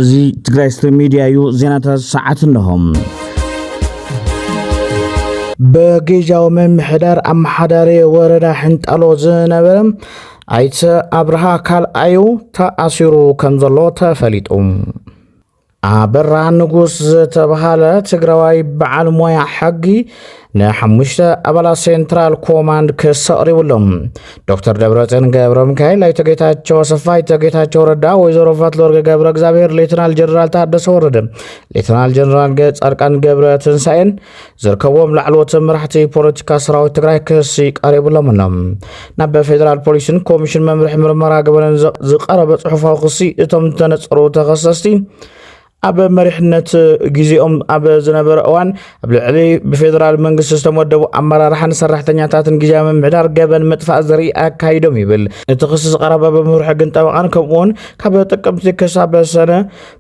እዚ ትግራይ ስትሪም ሚዲያ እዩ። ዜናታት ሰዓት እነሆም። በግጃዊ ምምሕዳር ኣመሓዳሪ ወረዳ ሕንጣሎ ዝነበረ ኣይተ ኣብርሃ ካልኣዩ ተኣሲሩ ከም ዘሎ ተፈሊጡ ኣበራ ንጉስ ዝተብሃለ ትግራዋይ በዓል ሞያ ሕጊ ንሓሙሽተ ኣባላት ሴንትራል ኮማንድ ክስ ኣቕሪቡሎም ዶክተር ደብረፅን ገብረ ሚካኤል፣ ኣይተ ጌታቸው ኣሰፋ፣ ኣይተ ጌታቸው ረዳ፣ ወይዘሮ ፈትለወርቅ ገብረ እግዚኣብሔር፣ ሌትናል ጀነራል ታደሰ ወረደ፣ ሌትናል ጀነራል ጻድቃን ገብረ ትንሳኤን ዝርከብዎም ላዕለዎት መራሕቲ ፖለቲካ ሰራዊት ትግራይ ክሲ ቀሪብሎም ኣሎ። ናብ ፌደራል ፖሊስን ኮሚሽን መምርሒ ምርመራ ገበንን ዝቀረበ ጽሑፋዊ ክሲ እቶም ዝተነጸሩ ተኸሰስቲ ኣብ መሪሕነት ግዜኦም ኣብ ዝነበረ እዋን ኣብ ልዕሊ ብፌደራል መንግስቲ ዝተመደቡ ኣመራርሓን ሰራሕተኛታትን ግዜያዊ ምምሕዳር ገበን ምጥፋእ ዘርኢ ኣካይዶም ይብል እቲ ክሲ ዝቀረበ ብምምርሒ ግን ጠበቃን ከምኡውን ካብ ጥቅምቲ ክሳብ ሰነ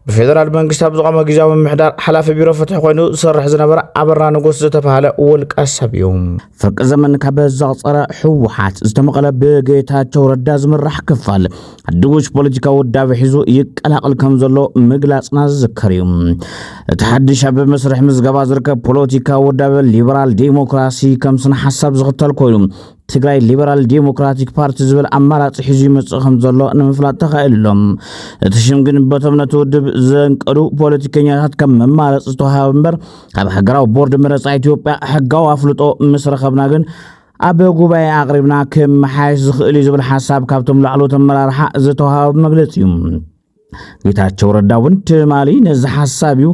ብፌደራል መንግስቲ ኣብ ዝቖመ ግዜያዊ ምምሕዳር ሓላፊ ቢሮ ፍትሒ ኮይኑ ዝሰርሕ ዝነበረ ኣበራ ንጉስ ዝተባሃለ ውልቀ ሰብ እዩ ፍርቂ ዘመን ካብ ዘቕፀረ ህወሓት ዝተመቐለ ብጌታቸው ረዳ ዝምራሕ ክፋል ድጉሽ ፖለቲካዊ ውዳበ ሒዙ ይቀላቕል ከም ዘሎ ምግላፅና ዝዝከር እዩ እቲ ሓድሽ ኣብ መስርሕ ምዝገባ ዝርከብ ፖለቲካዊ ውዳበ ሊበራል ዴሞክራሲ ከም ስነ ሓሳብ ዝኽተል ኮይኑ ትግራይ ሊበራል ዴሞክራቲክ ፓርቲ ዝብል ኣማራፂ ሒዙ ይመፅእ ከም ዘሎ ንምፍላጥ ተኻኢሉ ኣሎ። እቲ ሽም ግን በቶም ነቲ ውድብ ዘንቀዱ ፖለቲከኛታት ከም መማረፂ ዝተዋሃበ እምበር ካብ ሃገራዊ ቦርድ መረፃ ኢትዮጵያ ሕጋዊ ኣፍልጦ ምስ ረኸብና ግን ኣብ ጉባኤ ኣቕሪብና ክመሓየሽ ዝኽእል እዩ ዝብል ሓሳብ ካብቶም ላዕለዎት ኣመራርሓ ዝተዋሃበ መግለፂ እዩ። ጌታቸው ረዳ እውን ትማሊ ነዚ ሓሳብ እዩ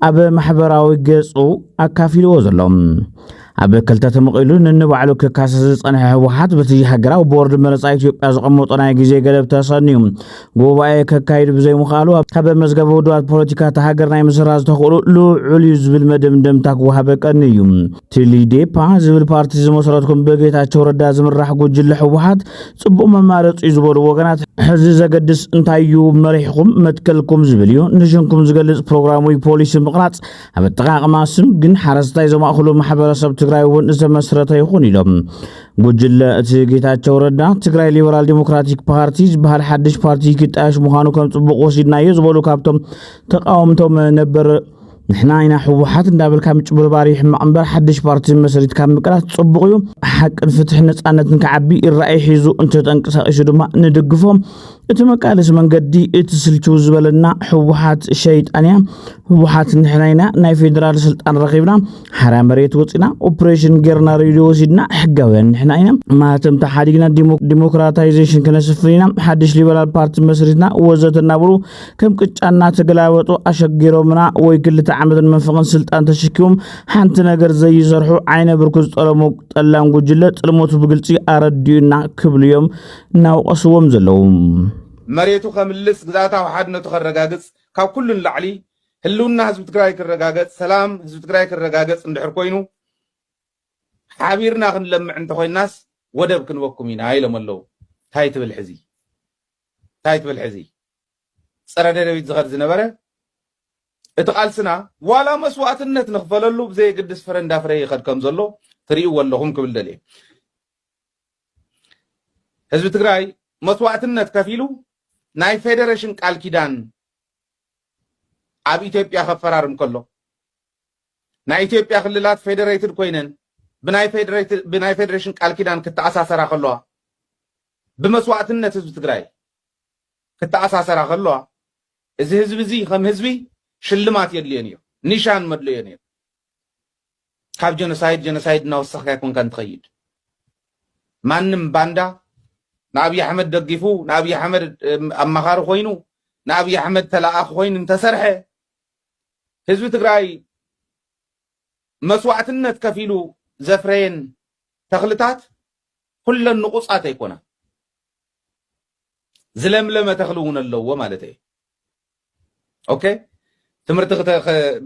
ኣብ ማሕበራዊ ገጹ ኣካፊልዎ ዘሎ ኣብ ክልተ ተመቒሉ ንንባዕሉ ክካሰ ዝጸንሐ ህወሓት በቲ ሃገራዊ ቦርድ መረፃ ኢትዮጵያ ዝቐመጦ ናይ ግዜ ገደብ ተሰንዩ ጉባኤ ከካይድ ብዘይምኽኣሉ ካብ መዝገበ ውድባት ፖለቲካ እቲ ሃገር ናይ ምስራ ዝተኽእሉ ልዑል እዩ ዝብል መደምደምታ ክወሃበ ቀኒ እዩ ትሊዴፓ ዝብል ፓርቲ ዝመስረትኩም ብጌታቸው ረዳ ዝምራሕ ጉጅለ ህወሓት ጽቡቕ መማረፂ እዩ ዝበሉ ወገናት ሕዚ ዘገድስ እንታይ እዩ መሪሕኹም መትከልኩም ዝብል እዩ ንሽንኩም ዝገልጽ ፕሮግራም ወይ ፖሊሲ ምቕራጽ ኣብ ኣጠቃቕማ ስም ግን ሓረስታይ ዘማእኽሉ ማሕበረሰብ ትግራይ እውን ዝተመስረተ ይኹን ኢሎም ጉጅለ እቲ ጌታቸው ረዳ ትግራይ ሊበራል ዲሞክራቲክ ፓርቲ ዝበሃል ሓድሽ ፓርቲ ክጣየሽ ምዃኑ ከም ጽቡቕ ወሲድናዮ ዝበሉ ካብቶም ተቃወምቶም ነበር ንሕና ኢና ሕወሓት እንዳበልካ ምጭብርባር ይሕማቕ እምበር ሓድሽ ፓርቲ መሰሪትካ ምቅላስ ጽቡቕ እዩ ሓቅን ፍትሕን ነጻነትን ክዓቢ ይረኣይ ሒዙ እንተተንቀሳቒሱ ድማ ንድግፎ እቲ መቃለሲ መንገዲ እቲ ስልችው ዝበለና ሕወሓት ሸይጣን እያ ሕወሓት ንሕና ኢና ናይ ፌዴራል ስልጣን ረኺብና ሓራ መሬት ወፂና ኦፕሬሽን ጌርና ሬድዮ ወሲድና ሕጋውያን ንሕና ኢና ማህተምታ ሓዲግና ዲሞክራታይዜሽን ክነስፍን ኢና ሓድሽ ሊበራል ፓርቲ መስሪትና ወዘተ እናበሉ ከም ቅጫ እናተገላበጡ ኣሸጊሮምና ወይ ክልተ ዓመትን መንፈቕን ስልጣን ተሸኪሞም ሓንቲ ነገር ዘይሰርሑ ዓይነ ብርኩ ዝጠለሙ ጠላም ጉጅለ ጥልመቱ ብግልፂ ኣረዲኡና ክብሉ እዮም እናወቐስዎም ዘለዉ። መሬቱ ከምልስ፣ ግዝኣታዊ ሓድነቱ ከረጋግፅ፣ ካብ ኩሉ ንላዕሊ ህልውና ህዝቢ ትግራይ ክረጋገፅ፣ ሰላም ህዝቢ ትግራይ ክረጋገፅ እንድሕር ኮይኑ ሓቢርና ክንለምዕ እንተኾይናስ ወደብ ክንበኩም ኢና ኢሎም ኣለዉ። ታይ ትብል ሕዚ? ታይ ትብል ሕዚ ፀረ ደደቢት ዝኸድ ዝነበረ እቲ ቃልስና ዋላ መስዋእትነት ንኽፈለሉ ብዘየግድስ ፍረ እንዳፍረየ ይኸድ ከም ዘሎ ትሪእዎ ኣለኹም ክብል ደልየ ህዝቢ ትግራይ መስዋእትነት ከፊሉ ናይ ፌደሬሽን ቃል ኪዳን ኣብ ኢትዮጵያ ከፈራርም ከሎ ናይ ኢትዮጵያ ክልላት ፌደሬትድ ኮይነን ብናይ ፌደሬሽን ቃል ኪዳን ክተኣሳሰራ ከለዋ ብመስዋእትነት ህዝቢ ትግራይ ክተኣሳሰራ ከለዋ እዚ ህዝቢ እዚ ከም ህዝቢ ሽልማት የድልዮን እዮ፣ ኒሻን መድለዮን እዮ። ካብ ጀኖሳይድ ጀኖሳይድ እናወሰኽካ ኣይኮንካን ትኸይድ። ማንም ባንዳ ንኣብዪ ኣሕመድ ደጊፉ ንኣብዪ ኣሕመድ ኣማኻሪ ኮይኑ ንኣብዪ ኣሕመድ ተላኣኺ ኮይኑ እንተሰርሐ ህዝቢ ትግራይ መስዋእትነት ከፊሉ ዘፍረየን ተኽልታት ኩለን ንቑጻት ኣይኮናን። ዝለምለመ ተኽሊ እውን ኣለዎ ማለት እየ። ኦኬ ትምህርቲ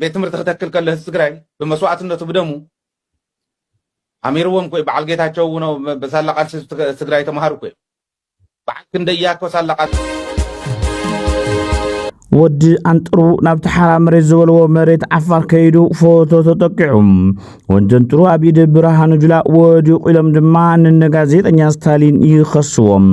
ቤት ትምህርቲ ክተክል ከሎ ህዝቢ ትግራይ ብመስዋእትነቱ ብደሙ ኣሚርዎም ኮይ በዓል ጌታቸው እውን በሳላ ቃልሲ ትግራይ ተምሃሩ ኮይ በዓል ክንደይ እያኮ ሳላቃት። ወዲ ኣንጥሩ ናብቲ ሓራ መሬት ዝበልዎ መሬት ዓፋር ከይዱ ፎቶ ተጠቂዑ ወንጀንጥሩ ኣብ ኢድ ብርሃኑ ጁላ ወዲቑ ኢሎም ድማ ንነጋዜጠኛ ስታሊን ይኸስዎም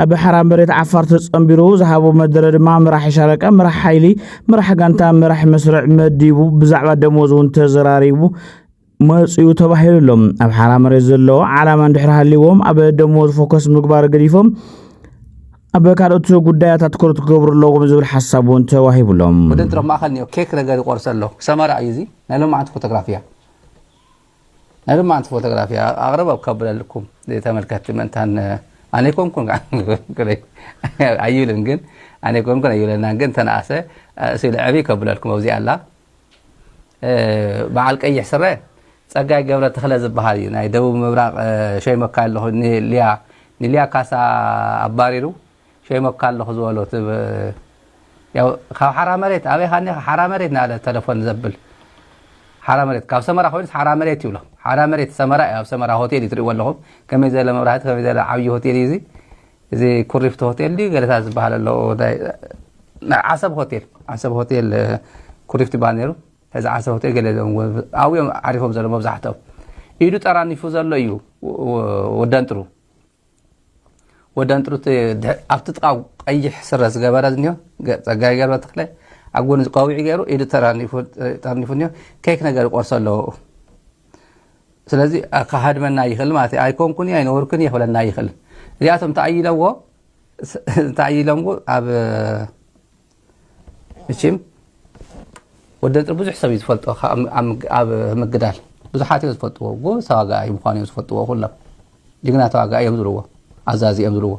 ኣብ ሓራ መሬት ዓፋር ተጸንቢሩ ዝሃቦ መደረ ድማ መራሒ ሻለቃ መራሕ ሓይሊ መራሕ ጋንታ መራሕ መስርዕ መዲቡ ብዛዕባ ደሞዝ እውን ተዘራሪቡ መፅኡ ተባሂሉ ኣሎ። ኣብ ሓራ መሬት ዘሎ ዓላማ እንድሕር ሃልዎም ኣብ ደሞዝ ፎከስ ምግባር ገዲፎም ኣብ ካልኦት ጉዳያት ኣትኩሮት ክገብሩ ኣለዎም ዝብል ሓሳብ እውን ተዋሂብሎም። ወደንትር ኣብ ማእኸል ኒኦ ኬክ ነገር ይቆርሰ ኣሎ ሰመራ እዩ እዚ ናይ ሎማዓንቲ ፎቶግራፍ እያ ናይ ሎማዓንቲ ፎቶግራፍ እያ ኣቕረብ ኣብ ከብለልኩም ተመልከትቲ ምእንታን ኣነ ኮንኩን ኣይብልን ግን ኣነ ኮንኩን ኣይብለናን ግን ተነኣሰ ስለ ዕብይ ከብለልኩም ኣብዚኣ ኣላ በዓል ቀይሕ ስረ ጸጋይ ገብረ ተኽለ ዝበሃል እዩ ናይ ደቡብ ምብራቕ ሸይመካ ኣለኹ ንልያ ንልያ ካሳ ኣባሪሩ ሸይመካ ኣለኹ ዝበሎ ያው ካብ ሓራ መሬት ኣበይ ካኒ ሓራ መሬት ናለ ተለፎን ዘብል ሓራ መሬት ካብ ሰመራ ኮይኑስ ሓራ መሬት ይብሎ ሓራ መሬት ሰመራ ኣብ ሰመራ ሆቴል እዩ ትሪእዎ ኣለኹም ከመይ ዘለ መብራህቲ ከመይ ዘለ ዓብዪ ሆቴል እዩ እዚ እዚ ኩሪፍቱ ሆቴል ድዩ ገለታት ዝበሃል ኣሎ ናይ ዓሰብ ሆቴል ዓሰብ ሆቴል ኩሪፍቲ ይበሃል ነይሩ ሕዚ ዓሰብ ሆቴል ገለ ኣብኡ እዮም ዓሪፎም ዘሎ መብዛሕትኦም ኢዱ ጠራኒፉ ዘሎ እዩ ወደንጥሩ ወደንጥሩ ኣብቲ ጥቃ ቀይሕ ስረ ዝገበረ ዝኒዮ ፀጋይ ገርበ ተክለ ኣብ ጎኒ ዝቀዊዒ ገይሩ ኢዱ ጠርኒፉ እኒኦ ኬክ ነገር ይቆርሶ ኣለዎ ስለዚ ክሃድመና ይኽእል ማለት እዩ። ኣይኮንኩን እየ ኣይነበርኩን እየ ክብለና ይኽእል። እዚኣቶም እንታይ ኢለዎ እንታይ ኢሎምዎ ኣብ እቺም ወዲ ንጥሪ ብዙሕ ሰብ እዩ ዝፈልጦ ኣብ ምግዳል ብዙሓት እዮም ዝፈልጥዎ ጎበዝ ተዋጋኢ ምኳኑ እዮም ዝፈልጥዎ ኩሎም ጅግና ተዋጋኢ እዮም ዝብልዎ ኣዛዚ እዮም ዝብልዎ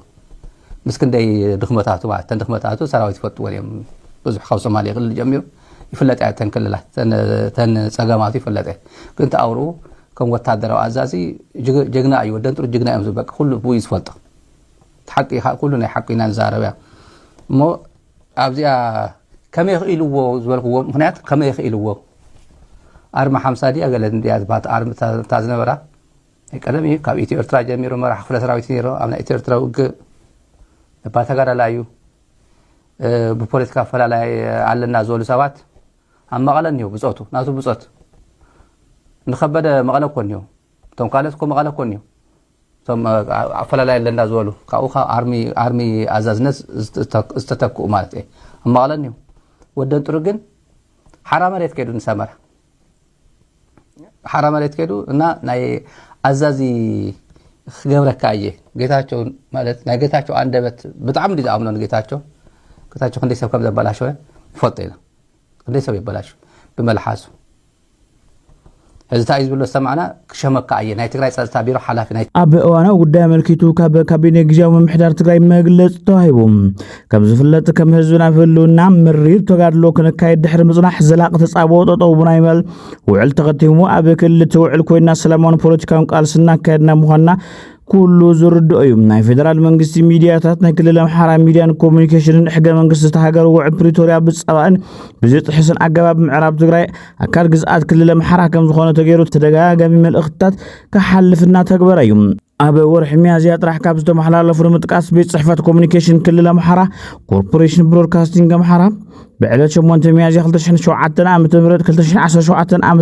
ምስ ክንደይ ድኽመታቱ ማለት እተን ድኽመታቱ ሰራዊት ይፈልጥዎን እዮም ብዙሕ ካብ ሶማሌ ክልል ጀሚሩ ይፍለጥ እያ እተን ክልላት እተን ፀገማቱ ይፍለጥ እየ ግን ተኣውርኡ ከም ወታደራዊ ኣዛዚ ጀግና እዩ ወደን ጥሩ ጅግና እዮም ዝበቅ ኩሉ ብኡ እዩ ዝፈልጦ ሓቂ ኩሉ ናይ ሓቂ ኢና ንዛረብ እያ እሞ ኣብዚኣ ከመይ ክኢልዎ ዝበልክዎ ምክንያት ከመይ ክኢልዎ ኣርሚ ሓምሳ ድያ ገለ ድያ ዝበሃት ኣርሚ እታ ዝነበራ ናይ ቀደም እዩ ካብ ኢትዮ ኤርትራ ጀሚሩ መራሕ ክፍለ ሰራዊት ነይሮ ኣብ ናይ ኢትዮ ኤርትራ ውግእ እባ ተጋዳላ እዩ ብፖለቲካ ኣፈላላይ ኣለና ዝበሉ ሰባት ኣብ መቐለ እኒሁ ብፆቱ ናቱ ብፆት ንከበደ መቐለ እኮ እኒሁ እቶም ካልኦት እኮ መቐለ እኮ እኒሁ እቶም ኣፈላላይ ኣለና ዝበሉ ካብኡ ካብ ኣርሚ ኣዛዝነት ዝተተክኡ ማለት እየ ኣብ መቐለ እኒሁ ወደንጥሩ ግን ሓራ መሬት ከይዱ ንሰመራ ሓራ መሬት ከይዱ እና ናይ ኣዛዚ ክገብረካ እየ ጌታቸው ማለት ናይ ጌታቸው ኣንደበት ብጣዕሚ እንዲ ዝኣምኖ ንጌታቸው ጌታቸው ክንደይ ሰብ ከም ዘበላሸወ ይፈልጦ ኢና ክንደይ ሰብ ይበላሽ ብመልሓሱ ሕዚ እንታይ እዩ ዝብሎ ዝሰማዕና ክሸመካ እየ ናይ ትግራይ ፀፅታ ቢሮ ሓላፊ ናይ። ኣብ እዋናዊ ጉዳይ ኣመልኪቱ ካብ ካቢኔ ግዝያዊ ምምሕዳር ትግራይ መግለፂ ተዋሂቡ። ከም ዝፍለጥ ከም ህዝቢ ናብ ህልውና ምሪር ተጋድሎ ክንካየድ ድሕሪ ምፅናሕ ዘላቂ ተፃብኦ ጠጠው ናይ ምባል ውዕል ተኸቲሙ ኣብ ክልል እቲ ውዕል ኮይና ሰላማውን ፖለቲካውን ቃልሲ እናካየድና ምዃንና ኩሉ ዝርድኦ እዩ። ናይ ፌደራል መንግስቲ ሚድያታት ናይ ክልል ኣምሓራ ሚድያን ኮሚኒኬሽንን ሕገ መንግስቲ እቲ ሃገር ውዕል ፕሪቶርያ ብፀባእን ብዝጥሕስን ኣገባብ ምዕራብ ትግራይ ኣካል ግዝኣት ክልል ኣምሓራ ከም ዝኾነ ተገይሩ ተደጋጋሚ መልእኽትታት ክሓልፍ እናተግበረ እዩ። ኣብ ወርሒ ሚያዝያ ጥራሕ ካብ ዝተመሓላለፉ ንምጥቃስ ቤት ፅሕፈት ኮሚኒኬሽን ክልል ኣምሓራ ኮርፖሬሽን ብሮድካስቲንግ ኣምሓራ ብዕለት 8 ሚያዝያ 2007 ዓ ም 2017 ዓ ም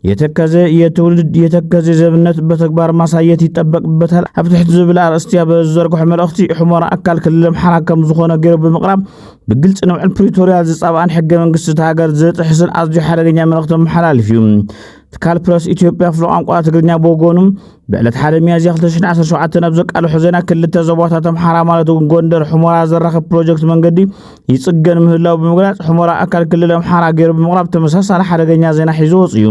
የተከዘ የትውልድ የተከዘ ዘብነት በተግባር ማሳየት ይጠበቅበታል ኣብ ትሕቲ ዝብል ኣርእስትያ በዝዘርግሖ መልእኽቲ ሑመራ ኣካል ክልል ኣምሓራ ከም ዝኾነ ገይሩ ብምቕራብ ብግልፂ ንውዕል ፕሪቶርያ ዝፃብኣን ሕገ መንግስቲ እቲ ሃገር ዝጥሕስን ኣዝዩ ሓደገኛ መልእኽቲ መመሓላልፍ እዩ ትካል ፕረስ ኢትዮጵያ ክፍሊ ቋንቋ ትግርኛ ብወገኑ ብዕለት ሓደ ሚያዝያ 2017 ናብ ዘቃልሖ ዜና ክልተ ዞባታት ኣምሓራ ማለት እውን ጎንደር ሕሞራ ዘራኽብ ፕሮጀክት መንገዲ ይፅገን ምህላው ብምግላፅ ሕሞራ ኣካል ክልል ኣምሓራ ገይሩ ብምቕራብ ተመሳሳሊ ሓደገኛ ዜና ሒዙ ወፅ እዩ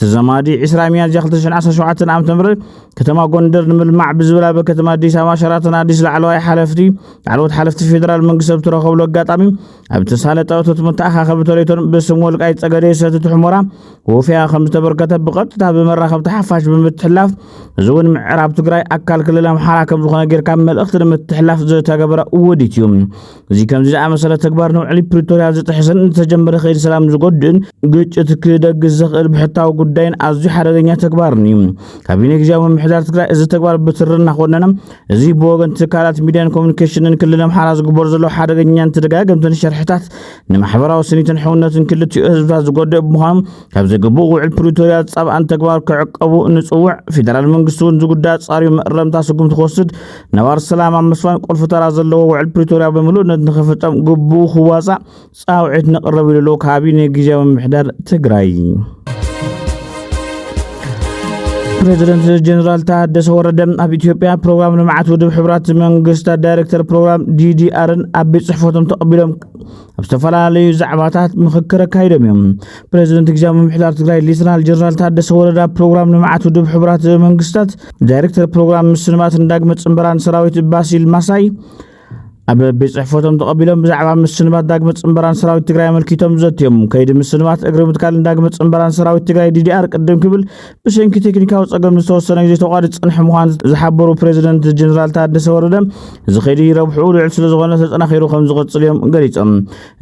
ተዘማዲ 20 ሚያዝያ 2017 ዓ ም ከተማ ጎንደር ንምልማዕ ብዝብል ኣብ ከተማ ኣዲስ ኣበባ ሸራተን ኣዲስ ላዕለዋይ ሓለፍቲ ላዕለዎት ሓለፍቲ ፌዴራል መንግስቲ ዝተረኸብሉ ኣጋጣሚ ኣብ ተሳለጠ እቶት መተኣኻኸቢ ተሌቶን ብስም ወልቃይት ጸገዴ ሰቲት ሑመራ ወፍያ ከም ዝተበርከተ ብቐጥታ ብመራኸብቲ ሓፋሽ ብምትሕላፍ እዚ እውን ምዕራብ ትግራይ ኣካል ክልል ኣምሓራ ከም ዝኾነ ጌርካ መልእኽቲ ንምትሕላፍ ዝተገበረ ውዲት እዩ እዚ ከምዚ ዝኣመሰለ ተግባር ንውዕሊ ፕሪቶርያ ዝጥሕስን ዝተጀመረ ከይዲ ሰላም ዝጎድእን ግጭት ክደግስ ዘኽእል ብሕታዊ ጉዳይን ኣዝዩ ሓደገኛ ተግባርን እዩ ካቢኔ ግዜያዊ ምምሕዳር ትግራይ እዚ ተግባር ብትሪ እናኾነነ እዚ ብወገን ትካላት ሚድያን ኮሚኒኬሽንን ክልል ኣምሓራ ዝግበሩ ዘሎ ሓደገኛን ተደጋገምትን ሸርሕታት ንማሕበራዊ ስኒትን ሕውነትን ክልቲኡ ህዝብታት ዝጎድእ ብምዃኑ ካብ ዘግብኡ ውዕል ፕሪቶርያ ዝፃብኣን ተግባር ክዕቀቡ ንፅውዕ ፌደራል መንግስቲ እውን ዝጉዳ ፃሪዩ መእረምታ ስጉምቲ ክወስድ ነባር ሰላም ኣብ ምስፋን ቁልፊ ተራ ዘለዎ ውዕል ፕሪቶርያ ብምሉእነት ንክፍፀም ግብኡ ክዋፃእ ፃውዒት ንቕረብ ኢሉ ኣሎ ካቢኔ ግዜያዊ ምምሕዳር ትግራይ። ፕሬዚደንት ጀኔራል ታደሰ ወረደ ኣብ ኢትዮጵያ ፕሮግራም ልምዓት ውድብ ሕብራት መንግስታት ዳይሬክተር ፕሮግራም ዲዲኣርን ኣብ ቤት ፅሕፈቶም ተቐቢሎም ኣብ ዝተፈላለዩ ዛዕባታት ምክክር ኣካይዶም እዮም ፕሬዚደንት ግዜያዊ ምምሕዳር ትግራይ ሌተናል ጀኔራል ታደሰ ወረዳ ፕሮግራም ልምዓት ውድብ ሕብራት መንግስታት ዳይሬክተር ፕሮግራም ምስልማትን ዳግመ ፅንበራን ሰራዊት ባሲል ማሳይ ኣብ ቤት ጽሕፈቶም ተቐቢሎም ብዛዕባ ምስንባት ዳግመ ጽንበራን ሰራዊት ትግራይ ኣመልኪቶም ዘትዮም ከይዲ ምስንባት እግሪ ምትካልን ዳግመ ጽንበራን ሰራዊት ትግራይ ዲዲኣር ቅድም ክብል ብሰንኪ ቴክኒካዊ ጸገም ዝተወሰነ ግዜ ተቋዲ ጽንሕ ምዃን ዝሓበሩ ፕሬዚደንት ጀኔራል ታደሰ ወረደ እዚ ከይዲ ረብሕኡ ልዑል ስለዝኾነ ተጠናኺሩ ከም ዝቕፅል እዮም ገሊፆም።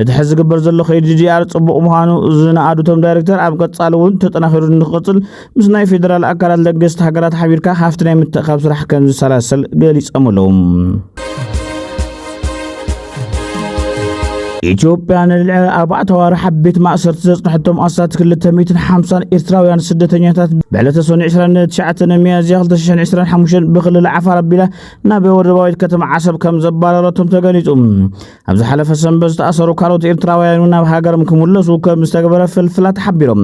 እቲ ሕዚ ዝግበር ዘሎ ከይዲ ዲዲኣር ጽቡቕ ምዃኑ ዝነኣዱ እቶም ዳይሬክተር ኣብ ቀጻሊ እውን ተጠናኺሩ ንክቕፅል ምስ ናይ ፌዴራል ኣካላት ለገስቲ ሃገራት ሓቢርካ ሃፍቲ ናይ ምትእኻብ ስራሕ ከም ዝሰላሰል ገሊፆም ኣለዉ። ኢትዮጵያ ንልዕሊ ኣርባዕተ ኣዋርሕ ኣብ ቤት ማእሰርቲ ዘጽንሐቶም ኣስታት 250 ኤርትራውያን ስደተኛታት ብዕለተ ሰኑ 29 ሚያዝያ 2025 ብክልል ዓፋር ኣቢላ ናብ ወደባዊት ከተማ ዓሰብ ከም ዘባረረቶም ተገሊጹ። ኣብ ዝሓለፈ ሰንበት ዝተኣሰሩ ካልኦት ኤርትራውያን እውን ናብ ሃገሮም ክምለሱ ከም ዝተገበረ ፍልፍላት ሓቢሮም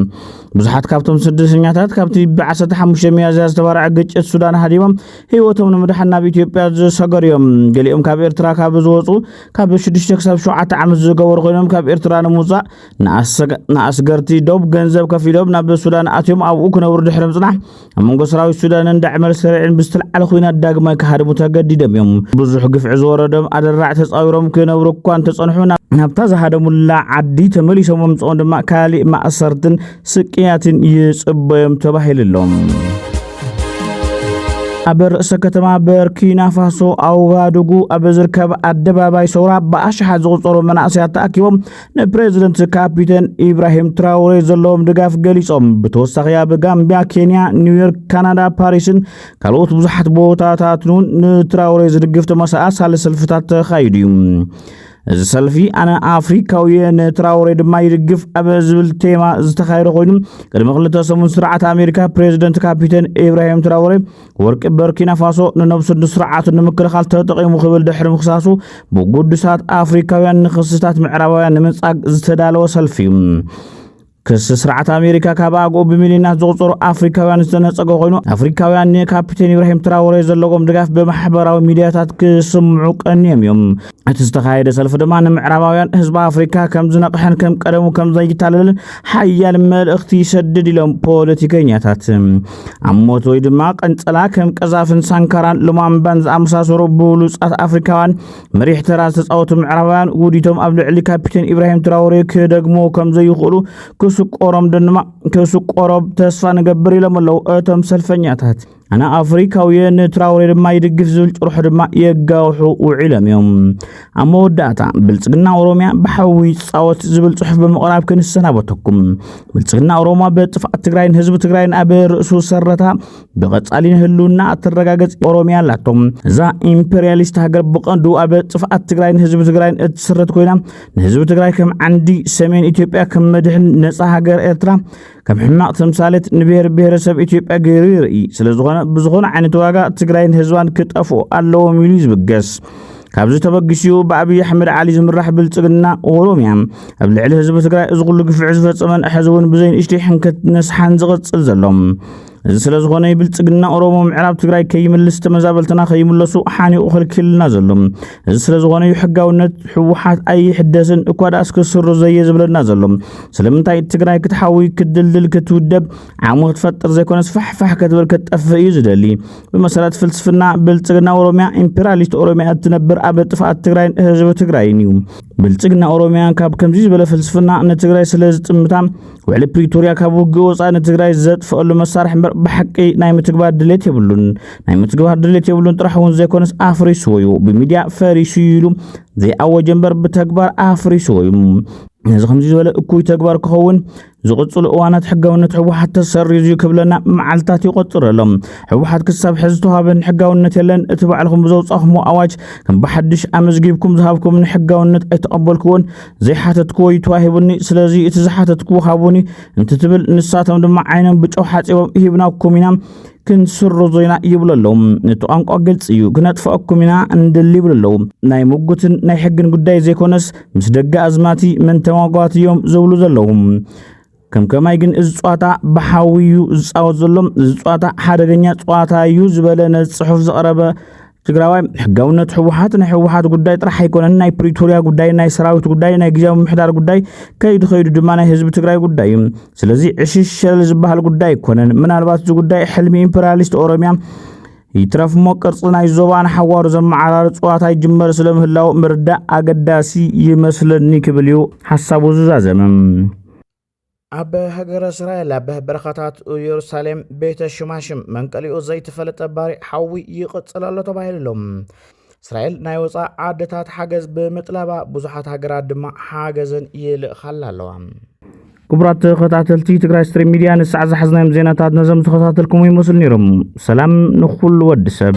ብዙሓት ካብቶም ስደተኛታት ካብቲ ብ15 ሚያዝያ ዝተባርዐ ግጭት ሱዳን ሃዲሞም ህይወቶም ንምድሓን ናብ ኢትዮጵያ ዝሰገሩ እዮም ገሊኦም ካብ ኤርትራ ካብ ዝወፁ ካብ 6 ክሳብ 7 ዓመት ዝገበሩ ኮይኖም ካብ ኤርትራ ንምውፃእ ንኣስገርቲ ዶብ ገንዘብ ከፊሎም ናብ ሱዳን ኣትዮም ኣብኡ ክነብሩ ድሕሪ ምፅናሕ ኣብ መንጎ ሰራዊት ሱዳንን ዳዕመል ሰሪዕን ብዝተልዓለ ኩናት ዳግማይ ክሃድሙ ተገዲዶም እዮም። ብዙሕ ግፍዒ ዝወረዶም ኣደራዕ ተጻዊሮም ክነብሩ እኳ እንተጸንሑ ናብታ ዝሃደሙላ ዓዲ ተመሊሶም ምምጽኦም ድማ ካሊእ ማእሰርትን ስቅያትን ይጽበዮም ተባሂሉ ኣሎ። ኣብ ርእሰ ከተማ በርኪና ፋሶ ኣውጋዱጉ ኣብ ዝርከብ ኣደባባይ ሰውራ ብኣሽሓት ዝቑጸሩ መናእሰያት ተኣኪቦም ንፕሬዚደንት ካፒተን ኢብራሂም ትራውሬ ዘለዎም ድጋፍ ገሊጾም ብተወሳኺ ኣብ ጋምቢያ ኬንያ ኒውዮርክ ካናዳ ፓሪስን ካልኦት ብዙሓት ቦታታትን እውን ንትራውሬ ዝድግፍ ተመሳሳሊ ሰልፍታት ተኻይዱ እዩ እዚ ሰልፊ ኣነ ኣፍሪካዊ ንትራውሬ ድማ ይድግፍ ኣብ ዝብል ቴማ ዝተኻየደ ኮይኑ ቅድሚ ክልተ ሰሙን ስርዓት ኣሜሪካ ፕሬዚደንት ካፒተን ኢብራሂም ትራውሬ ወርቂ በርኪናፋሶ ንነብሱ ንስርዓቱ ንምክልኻል ተጠቒሙ ክብል ድሕሪ ምክሳሱ ብጉዱሳት ኣፍሪካውያን ንክስታት ምዕራባውያን ንምንጻግ ዝተዳለወ ሰልፊ እዩ ክሲ ስርዓት ኣሜሪካ ካብ ኣግኡ ብሚሊዮናት ዝቑፀሩ ኣፍሪካውያን ዝተነፀገ ኮይኑ ኣፍሪካውያን ንካፕቴን ኢብራሂም ትራወሬ ዘለዎም ድጋፍ ብማሕበራዊ ሚዲያታት ክስምዑ ቀኒዮም እዮም እቲ ዝተኻየደ ሰልፊ ድማ ንምዕራባውያን ህዝቢ ኣፍሪካ ከም ዝነቕሐን ከም ቀደሙ ከም ዘይታለልን ሓያል መልእኽቲ ይሰድድ ኢሎም ፖለቲከኛታት ኣብ ሞት ወይ ድማ ቀንፀላ ከም ቀዛፍን ሳንካራን ሉማምባን ዝኣመሳሰሩ ብብሉፃት ኣፍሪካውያን መሪሕ ተራ ዝተፃወቱ ምዕራባውያን ውዲቶም ኣብ ልዕሊ ካፒቴን ኢብራሂም ትራውሬ ክደግሞ ከም ዘይኽእሉ ክስቆሮም ድማ ክስቆሮም ተስፋ ንገብር ኢሎም ኣለዉ እቶም ሰልፈኛታት ኣነ ኣፍሪካውየ ንትራውሬ ድማ ይድግፍ ዝብል ጭርሖ ድማ የጋውሑ ውዒሎም እዮም ኣብ መወዳእታ ብልፅግና ኦሮሚያ ብሓዊ ይፃወት ዝብል ፅሑፍ ብምቕራብ ክንሰናበተኩም ብልፅግና ኦሮማ በጥፍኣት ትግራይን ህዝቢ ትግራይን ኣብ ርእሱ ሰረታ ብቐፃሊ ንህልውና እትረጋገፅ ኦሮሚያ ኣላቶም እዛ ኢምፔሪያሊስት ሃገር ብቐንዱ ኣብ ጥፍኣት ትግራይን ህዝቢ ትግራይን እትስረት ኮይና ንህዝቢ ትግራይ ከም ዓንዲ ሰሜን ኢትዮጵያ ከም መድሕን ነፃ ሃገር ኤርትራ ከም ሕማቕ ተምሳሌት ንብሔር ብሔረሰብ ኢትዮጵያ ገይሩ ይርኢ ስለ ዝኾነ ብዝኾነ ዓይነት ዋጋ ትግራይን ህዝባን ክጠፍኡ ኣለዎም ኢሉ ዝብገስ ካብዚ ተበጊሲኡ ብኣብዪ ኣሕመድ ዓሊ ዝምራሕ ብልፅግና ኦሮምያ ኣብ ልዕሊ ህዝቢ ትግራይ እዚ ኩሉ ግፍዒ ዝፈፀመን ሕዚ እውን ብዘይንእሽተይ ሕንከት ነስሓን ዝቕፅል ዘሎ እዚ ስለ ዝኾነ ብልጽግና ኦሮሞ ምዕራብ ትግራይ ከይምልስ ተመዛበልትና ከይምለሱ ሓኒቑ ክልክልና ዘሎ እዚ ስለ ዝኾነ እዩ ሕጋውነት ህወሓት ኣይሕደስን እኳ ደኣ እስከ ስሩ ዘየ ዝብለና ዘሎ ስለምንታይ ትግራይ ክትሓዊ ክትድልድል ክትውደብ ዓሞ ክትፈጥር ዘይኮነ ስፋሕፋሕ ከትብል ከትጠፍእ እዩ ዝደሊ ብመሰረት ፍልስፍና ብልጽግና ኦሮሚያ ኢምፔሪያሊስት ኦሮሚያ እትነብር ኣብ ጥፍኣት ትግራይን ህዝቢ ትግራይን እዩ ብልጽግና ኦሮሚያ ካብ ከምዚ ዝበለ ፍልስፍና ንትግራይ ስለ ዝጥምታ ውዕሊ ፕሪቶርያ ካብ ውግእ ወፃኢ ንትግራይ ዘጥፍአሉ መሳርሒ እምበር ብሓቂ ናይ ምትግባር ድሌት የብሉን ናይ ምትግባር ድሌት የብሉን ጥራሕ እውን ዘይኮነስ ኣፍሪስዎ እዩ ብሚድያ ፈሪሱ ኢሉ ዘይኣወጀ እምበር ብተግባር ኣፍሪስዎ እዩ ነዚ ከምዚ ዝበለ እኩይ ተግባር ክኸውን ዝቕፅሉ እዋናት ሕጋውነት ህወሓት ተሰሪዙ ክብለና መዓልትታት ይቆፅር ኣሎ ህወሓት ክሳብ ሕዚ ተዋህበን ሕጋውነት የለን እቲ ባዕልኹም ብዘውፃኹሞ ኣዋጅ ከም ብሓድሽ ኣመዝጊብኩም ዝሃብኩምን ሕጋውነት ኣይተቐበልክዎን ዘይሓተትክዎ እዩ ተዋሂቡኒ ስለዚ እቲ ዝሓተትክዎ ሃቡኒ እንትትብል ንሳቶም ድማ ዓይኖም ብጨው ሓፂቦም ሂብናኩም ኢና ክንስርዞ ኢና ይብሉ ኣለዉ ነቲ ቋንቋ ግልፂ እዩ ክነጥፈአኩም ኢና እንድል ይብሉ ኣለዉ ናይ ምጉትን ናይ ሕግን ጉዳይ ዘይኮነስ ምስ ደገ ኣዝማቲ መን ተማጓት እዮም ዝብሉ ዘለዉ ከም ከማይ ግን እዚ ጸዋታ ብሓዊ እዩ ዝጻወት ዘሎ፣ እዚ ጸዋታ ሓደገኛ ጸዋታ እዩ ዝበለ ነዚ ጽሑፍ ዘቕረበ ትግራዋይ ሕጋውነት ህወሓት ናይ ህወሓት ጉዳይ ጥራሕ ኣይኮነን ናይ ፕሪቶሪያ ጉዳይ ናይ ሰራዊት ጉዳይ ናይ ግዜያዊ ምሕዳር ጉዳይ ከይዱ ከይዱ ድማ ናይ ህዝቢ ትግራይ ጉዳይ እዩ ስለዚ ዕሽሽ ሸለል ዝበሃል ጉዳይ ኣይኮነን ምናልባት እዚ ጉዳይ ሕልሚ ኢምፔሪያሊስት ኦሮሚያ ይትረፍ እሞ ቅርፂ ናይ ዞባ ንሓዋሩ ዘመዓራር እፅዋት ኣይጅመር ስለምህላው ምርዳእ ኣገዳሲ ይመስለኒ ክብል እዩ ሓሳቡ ዝዛዘመ ኣብ ሃገረ እስራኤል ኣብ በረኻታት ኢየሩሳሌም ቤተ ሽማሽም መንቀሊኡ ዘይተፈለጠ ባሪዕ ሓዊ ይቕፅል ኣሎ ተባሂሉ ኣሎ እስራኤል ናይ ወፃእ ዓድታት ሓገዝ ብምጥላባ ብዙሓት ሃገራት ድማ ሓገዘን ይልእኻላ ኣለዋ። ክቡራት ተኸታተልቲ ትግራይ ስትሪም ሚዲያ ንሳዕ ዝሓዝናዮም ዜናታት ነዞም ተኸታተልኩም ይመስሉ ነይሮም። ሰላም ንኹሉ ወዲ ሰብ